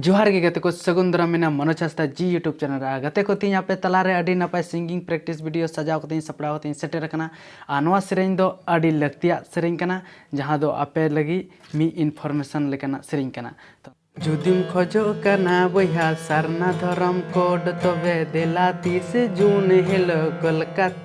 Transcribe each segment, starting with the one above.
ᱡᱚᱦᱟᱨ ᱜᱮ ᱜᱟᱛᱮ ᱠᱚ ᱥᱟᱹᱜᱩᱱ ᱫᱟᱨᱟᱢ ᱢᱮᱱᱟ ᱢᱚᱱᱳᱡᱽ ᱦᱟᱸᱥᱫᱟ ᱡᱤ ᱭᱩᱴᱩᱵᱽ ᱪᱮᱱᱮᱞ ᱨᱮ ᱜᱟᱛᱮ ᱠᱚ ᱛᱮᱦᱮᱧ ᱟᱯᱮ ᱛᱟᱞᱟ ᱨᱮ ᱟᱹᱰᱤ ᱱᱟᱯᱟᱭ ᱥᱤᱝᱜᱤᱝ ᱯᱨᱮᱠᱴᱤᱥ ᱵᱷᱤᱰᱤᱭᱳ ᱥᱟᱡᱟᱣ ᱠᱟᱛᱮᱧ ᱥᱟᱯᱲᱟᱣ ᱠᱟᱛᱮᱧ ᱥᱮᱴᱮᱨ ᱟᱠᱟᱱᱟ ᱟᱨ ᱱᱚᱣᱟ ᱥᱮᱨᱮᱧ ᱫᱚ ᱟᱹᱰᱤ ᱞᱟᱹᱠᱛᱤᱭᱟᱜ ᱥᱮᱨᱮᱧ ᱠᱟᱱᱟ ᱡᱟᱦᱟᱸ ᱫᱚ ᱟᱯᱮ ᱞᱟᱹᱜᱤᱫ ᱢᱤᱫ ᱤᱱᱯᱷᱚᱨᱢᱮᱥᱚᱱ ᱞᱮᱠᱟᱱᱟᱜ ᱥᱮᱨᱮᱧ ᱠᱟᱱᱟ ᱡᱩᱫᱤᱢ ᱠᱷᱚᱡᱚᱜ ᱠᱟᱱᱟ ᱵᱚᱭᱦᱟ ᱥᱟᱨᱱᱟ ᱫᱷᱚᱨᱚᱢ ᱠᱳᱰ ᱛᱚᱵᱮ ᱫᱮᱞᱟ ᱛᱤᱨᱤᱥᱮ ᱡᱩᱱ ᱦᱤᱞᱳᱜ ᱠᱳᱞᱠᱟᱛᱟ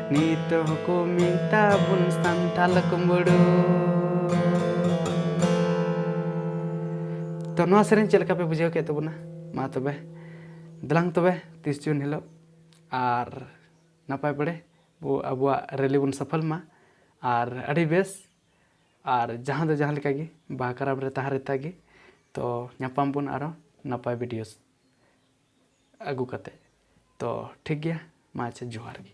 ᱱᱤᱛ ᱦᱚᱸᱠᱚ ᱢᱮᱛᱟ ᱵᱚᱱ ᱥᱟᱱᱛᱟᱞ ᱠᱩᱢᱵᱲᱩ ᱛᱚ ᱱᱚᱣᱟ ᱥᱮᱨᱮᱧ ᱪᱮᱫ ᱞᱮᱠᱟ ᱯᱮ ᱵᱩᱡᱷᱟᱹᱣ ᱠᱮᱫ ᱛᱟᱵᱚᱱᱟ ᱢᱟ ᱛᱚᱵᱮ ᱫᱮᱞᱟᱝ ᱛᱚᱵᱮ ᱛᱤᱥ ᱡᱩᱱ ᱦᱤᱞᱳᱜ ᱟᱨ ᱱᱟᱯᱟᱭ ᱵᱟᱲᱮ ᱵᱚ ᱟᱵᱚᱣᱟᱜ ᱨᱮᱞᱤ ᱵᱚᱱ ᱥᱚᱯᱷᱚᱞ ᱢᱟ ᱟᱨ ᱟᱹᱰᱤ ᱵᱮᱥ ᱟᱨ ᱡᱟᱦᱟᱸ ᱫᱚ ᱡᱟᱦᱟᱸ ᱞᱮᱠᱟ ᱜᱮ ᱵᱟᱦᱟ ᱠᱟᱨᱟᱢ ᱨᱮ ᱛᱟᱦᱮᱸ ᱨᱮᱛᱟ ᱜᱮ ᱛᱚ ᱧᱟᱯᱟᱢ ᱵᱚᱱ ᱟᱨᱚ ᱱᱟᱯᱟᱭ ᱵᱷᱤᱰᱤᱭᱳᱥ ᱟᱹᱜᱩ ᱠᱟᱛᱮ ᱛᱚ ᱴᱷᱤᱠ ᱜᱮᱭᱟ ᱢᱟ ᱟᱪᱪᱷᱟ ᱡᱚᱦᱟᱨ ᱜᱮ